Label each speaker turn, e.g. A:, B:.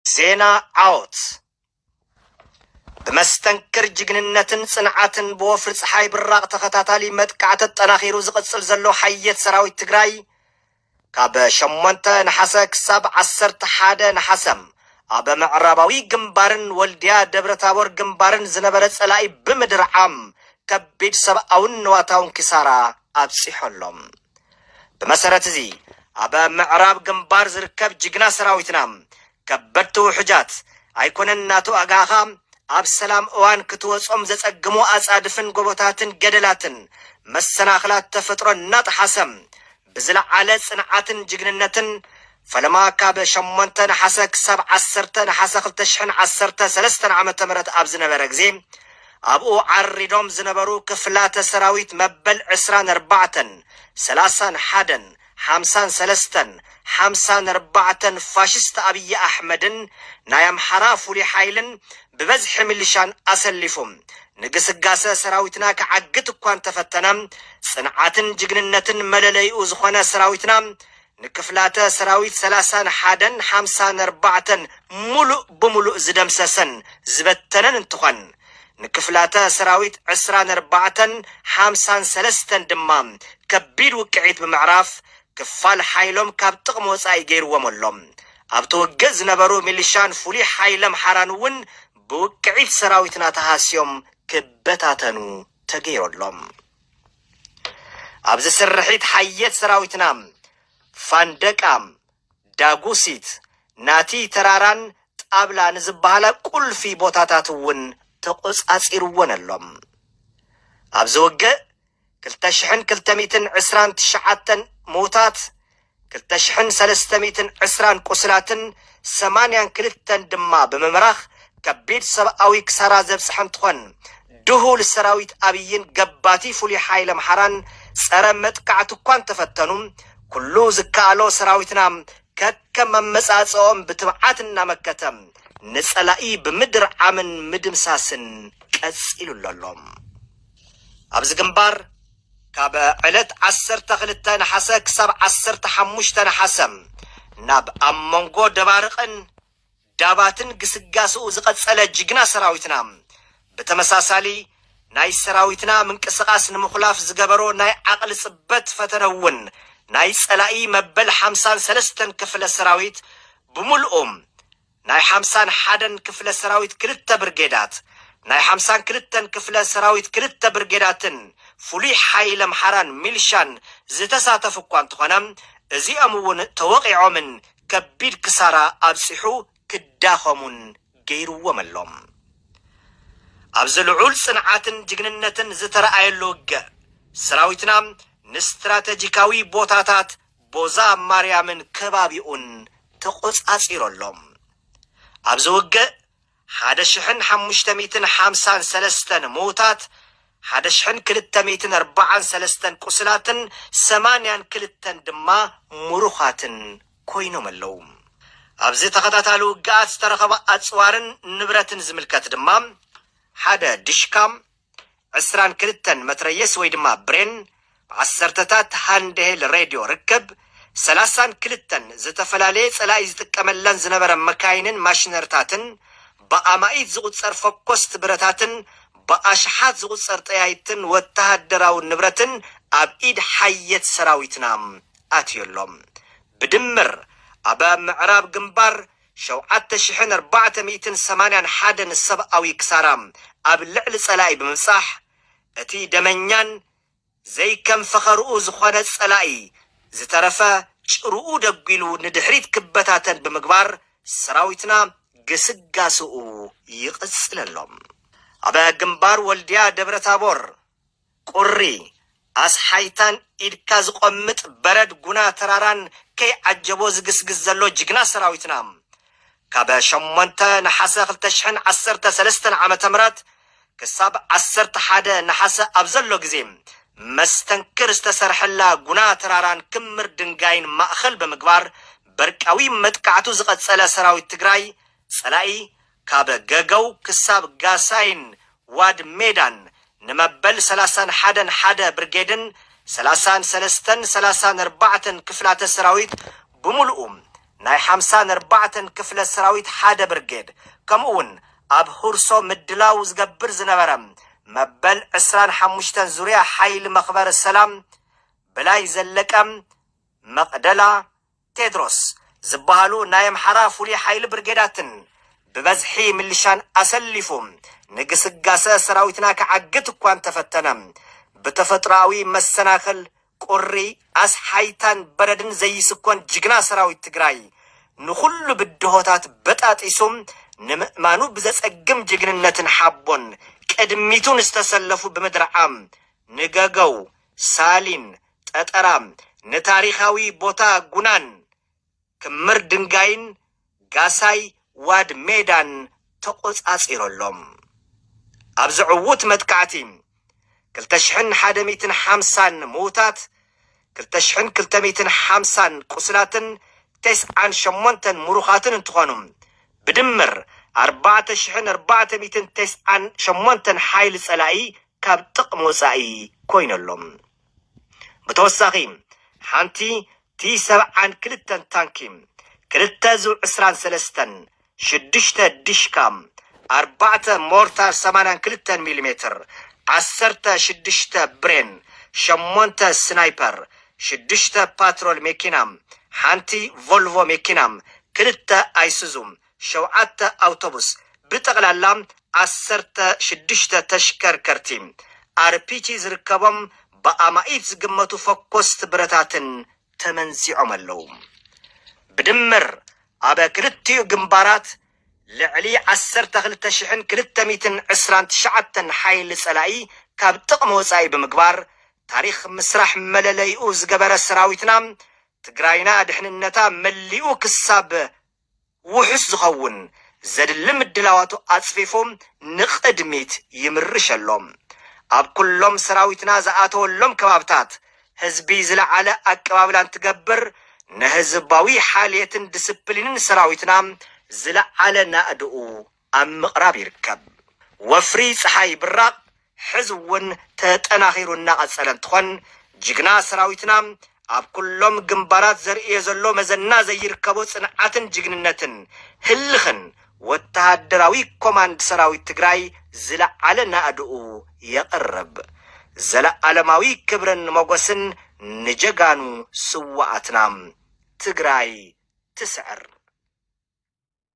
A: ዜና ዓወት ብመስተንክር ጅግንነትን ጽንዓትን ብወፍሪ ፀሓይ ብራቕ ተኸታታሊ መጥቃዕቲ ተጠናኺሩ ዝቕጽል ዘሎ ሓየት ሰራዊት ትግራይ ካብ ሸሞንተ ነሓሰ ክሳብ ዓሰርተ ሓደ ነሓሰ ኣብ ምዕራባዊ ግንባርን ወልድያ ደብረ ታቦር ግንባርን ዝነበረ ጸላኢ ብምድርዓም ከቢድ ሰብኣውን ንዋታውን ኪሳራ ኣብጺሖሎም። ብመሰረት እዚ ኣብ ምዕራብ ግንባር ዝርከብ ጅግና ሰራዊትና ከበድቲ ውሑጃት ኣይኮነን እናተዋግኣኻ ኣብ ሰላም እዋን ክትወጾም ዘጸግሙ ኣጻድፍን ጎቦታትን ገደላትን መሰናኽላት ተፈጥሮ እናጠሓሰ ብዝለዓለ ጽንዓትን ጅግንነትን ፈለማ ካብ ሸሞንተ ነሓሰ ክሳብ ዓሰርተ ነሓሰ ክልተ ሽሕን ዓሰርተ ሰለስተን ዓመተ ምህረት ኣብ ዝነበረ ግዜ ኣብኡ ዓሪዶም ዝነበሩ ክፍላተ ሰራዊት መበል ዕስራን ኣርባዕተን፣ ሰላሳን ሓደን፣ ሓምሳን ሰለስተን፣ ሓምሳን ኣርባዕተን ፋሽስት ኣብይ ኣሕመድን ናይ ኣምሓራ ፍሉይ ሓይልን ብበዝሒ ሚሊሻን ኣሰሊፉ ንግስጋሰ ሰራዊትና ክዓግት እኳ እንተፈተነ ጽንዓትን ጅግንነትን መለለይኡ ዝኾነ ሰራዊትና ንክፍላተ ሰራዊት ሰላሳን ሓደን ሓምሳን ኣርባዕተን ሙሉእ ብሙሉእ ዝደምሰሰን ዝበተነን እንትኾን ንክፍላተ ሰራዊት ዕስራን ኣርባዕተን ሓምሳን ሰለስተን ድማ ከቢድ ውቅዒት ብምዕራፍ ክፋል ሓይሎም ካብ ጥቕሚ ወፃኢ ገይርዎም ኣሎ። ኣብቲ ውግእ ዝነበሩ ሚሊሻን ፍሉይ ሓይሊ ኣምሓራን እውን ብውቅዒት ሰራዊትና ተሃስዮም ክበታተኑ ተገይሩ ኣሎ። ኣብዚ ስርሒት ሓየት ሰራዊትና ፋንደቃ፣ ዳጉሲት፣ ናቲ ተራራን ጣብላ ንዝበሃላ ቁልፊ ቦታታት እውን ተቖፃፂርወን ኣሎ። ኣብዚ ውግእ ክልተ ሽሕን ክልተ ሚእትን ዕስራን ትሽዓተን ምውታት፣ ክልተ ሽሕን ሰለስተ ሚእትን ዕስራን ቁስላትን ሰማንያን ክልተን ድማ ብምምራኽ ከቢድ ሰብኣዊ ክሳራ ዘብፅሐ እንትኾን ድሁል ሰራዊት ኣብይን ገባቲ ፍሉይ ሓይሊ ኣምሓራን ፀረ መጥቃዕቲ እኳ እንተፈተኑ ኩሉ ዝከኣሎ ሰራዊትና ከከም ኣመፃፅእኦም ብትብዓት እናመከተ ንፀላኢ ብምድርዓምን ምድምሳስን ቀፂሉሉ ኣሎ። ኣብዚ ግንባር ካብ ዕለት ዓሰርተ ክልተ ነሓሰ ክሳብ ዓሰርተ ሓሙሽተ ነሓሰ ናብ ኣብ መንጎ ደባርቕን ዳባትን ግስጋሰኡ ዝቐጸለ ጅግና ሰራዊትና ብተመሳሳሊ ናይ ሰራዊትና ምንቅስቓስ ንምኹላፍ ዝገበሮ ናይ ዓቕሊ ጽበት ፈተነ እውን ናይ ጸላኢ መበል ሓምሳን ሰለስተን ክፍለ ሰራዊት ብምልኡ ናይ ሓምሳን ሓደን ክፍለ ሰራዊት ክልተ ብርጌዳት፣ ናይ ሓምሳን ክልተን ክፍለ ሰራዊት ክልተ ብርጌዳትን ፍሉይ ሓይሊ ኣምሓራን ሚልሻን ዝተሳተፉ እኳ እንተኾነ እዚኦም እውን ተወቒዖምን ከቢድ ክሳራ ኣብፂሑ ክዳኸሙን ገይሩዎም ኣሎ። ኣብዚ ልዑል ፅንዓትን ጅግንነትን ዝተርኣየሉ ውግእ ሰራዊትና ንስትራተጂካዊ ቦታታት ቦዛ ማርያምን ከባቢኡን ተቖጻጺሩ ኣሎ። ኣብዚ ውግእ ሓደ ሽሕን ሓሙሽተ ሚእትን ሓምሳን ሰለስተን ምዉታት፣ ሓደ ሽሕን ክልተ ሚእትን ኣርባዓን ሰለስተን ቁስላትን ሰማንያን ክልተን ድማ ምሩኻትን ኮይኖም ኣለዉ። ኣብዚ ተኸታታሊ ውግኣት ዝተረኸበ ኣጽዋርን ንብረትን ዝምልከት ድማ ሓደ ዲሽካ፣ ዕስራን ክልተን መትረየስ ወይ ድማ ብሬን፣ ዓሰርተታት ሃንድሄል ሬድዮ ርከብ፣ ሰላሳን ክልተን ዝተፈላለየ ጸላኢ ዝጥቀመለን ዝነበረ መካይንን ማሽነርታትን፣ ብኣማኢት ዝቑጸር ፈኮስቲ ብረታትን ብኣሽሓት ዝቑጸር ጠያይትን ወተሃደራዊ ንብረትን ኣብ ኢድ ሓየት ሰራዊትና ኣትዩ ኣሎ። ብድምር ኣብ ምዕራብ ግንባር፣ ሸውዓተ ሽሕን ኣርባዕተ ሚእትን ሰማንያን ሓደን ሰብኣዊ ክሳራ ኣብ ልዕሊ ጸላኢ ብምብጻሕ፣ እቲ ደመኛን ዘይከም ፈኸርኡ ዝኾነ ጸላኢ ዝተረፈ ጭርኡ ደጒሉ ንድሕሪት ክበታተን ብምግባር ሰራዊትና ግስጋሰኡ ይቕጽል ኣሎ። ኣብ ግንባር ወልድያ ደብረታቦር ቁሪ ኣስሓይታን ኢድካ ዝቆምጥ በረድ ጉና ተራራን ከይዓጀቦ ዝግስግስ ዘሎ ጅግና ሰራዊትና ካብ ሸሞንተ ነሓሰ ክልተ ሽሕን ዓሰርተ ሰለስተን ዓመተ ምህረት ክሳብ ዓሰርተ ሓደ ነሓሰ ኣብ ዘሎ ግዜ መስተንክር ዝተሰርሐላ ጉና ተራራን ክምር ድንጋይን ማእኸል ብምግባር በርቃዊ መጥቃዕቱ ዝቐፀለ ሰራዊት ትግራይ ፀላኢ ካብ ገገው ክሳብ ጋሳይን ዋድ ሜዳን ንመበል ሰላሳን ሓደን ሓደ ብርጌድን ሰላሳን ሰለስተን ሰላሳን ኣርባዕተን ክፍላተ ሰራዊት ብምሉኡ ናይ ሓምሳን ኣርባዕተን ክፍለ ሰራዊት ሓደ ብርጌድ ከምኡ ውን ኣብ ሁርሶ ምድላው ዝገብር ዝነበረ መበል ዕስራን ሓሙሽተን ዙርያ ሓይሊ መኽበሪ ሰላም ብላይ ዘለቀ መቕደላ ቴድሮስ ዝብሃሉ ናይ ኣምሓራ ፍሉይ ሓይሊ ብርጌዳትን ብበዝሒ ምልሻን ኣሰሊፉ ንግስጋሰ ሰራዊትና ክዓግት እኳ እንተፈተነ ብተፈጥሮኣዊ መሰናኽል ቁሪ፣ ኣስሓይታን በረድን ዘይስኮን ጅግና ሰራዊት ትግራይ ንኹሉ ብድሆታት በጣጢሱ ንምእማኑ ብዘፀግም ጅግንነትን ሓቦን ቅድሚቱ ንዝተሰለፉ ብምድርዓም ንገገው፣ ሳሊን፣ ጠጠራ ንታሪኻዊ ቦታ ጉናን፣ ክምር ድንጋይን ጋሳይ ዋድ ሜዳን ተቖጻጺሩ ኣሎ። ኣብዚ ዕዉት መጥቃዕቲ፣ ክልተ ሽሕን ሓደ ሚእትን ሓምሳን ምዉታት፣ ክልተ ሽሕን ክልተ ሚእትን ሓምሳን ቁስላትን ተስዓን ሸሞንተን ምሩኻትን እንትኾኑ፣ ብድምር ኣርባዕተ ሽሕን ኣርባዕተ ሚእትን ተስዓን ሸሞንተን ሓይሊ ጸላኢ ካብ ጥቕሚ ወጻኢ ኮይኑ ኣሎ። ብተወሳኺ ሓንቲ ቲ ሰብዓን ክልተን ታንኪ፣ ክልተ ዙ ዕስራን ሰለስተን፣ ሽዱሽተ ዲሽካ፣ ኣርባዕተ ሞርታር ሰማንያን ክልተን ሚሊ ሜትር፣ ዓሰርተ ሽዱሽተ ብሬን፣ ሸሞንተ ስናይፐር፣ ሽዱሽተ ፓትሮል ሜኪና፣ ሓንቲ ቮልቮ ሜኪና፣ ክልተ ኣይሱዙ፣ ሸውዓተ ኣውቶቡስ፣ ብጠቕላላ ዓሰርተ ሽዱሽተ ተሽከርከርቲ ኣርፒጂ ዝርከቦም ብኣማኢት ዝግመቱ ፈኮስቲ ብረታትን ተመንዚዖም ኣለዉ። ብድምር ኣብ ክልቲኡ ግንባራት ልዕሊ ዓሰርተ ክልተ ሽሕን ክልተ ሚእትን ዕስራን ትሽዓተን ሓይሊ ጸላኢ ካብ ጥቕሚ ወጻኢ ብምግባር ታሪኽ ምስራሕ መለለይኡ ዝገበረ ሰራዊትና፣ ትግራይና ድሕንነታ መሊኡ ክሳብ ውሑስ ዝኸውን ዘድሊ ምድላዋቱ ኣጽፊፉ ንቕድሚት ይምርሽ ኣሎ። ኣብ ኩሎም ሰራዊትና ዝኣተወሎም ከባብታት ህዝቢ ዝለዓለ ኣቀባብላ እንትገብር፣ ንህዝባዊ ሓልየትን ድስፕሊንን ሰራዊትና ዝለዓለ ናእድኡ ኣብ ምቕራብ ይርከብ። ወፍሪ ፀሓይ ብራቕ ሕዚ እውን ተጠናኺሩ እናቐፀለ እንትኾን ጅግና ሰራዊትና ኣብ ኩሎም ግንባራት ዘርእዮ ዘሎ መዘና ዘይርከቦ ፅንዓትን ጅግንነትን ህልኽን ወታሃደራዊ ኮማንድ ሰራዊት ትግራይ ዝለዓለ ናእድኡ የቕርብ። ዘለኣለማዊ ክብርን ሞጎስን ንጀጋኑ ስዋኣትና! ትግራይ ትስዕር!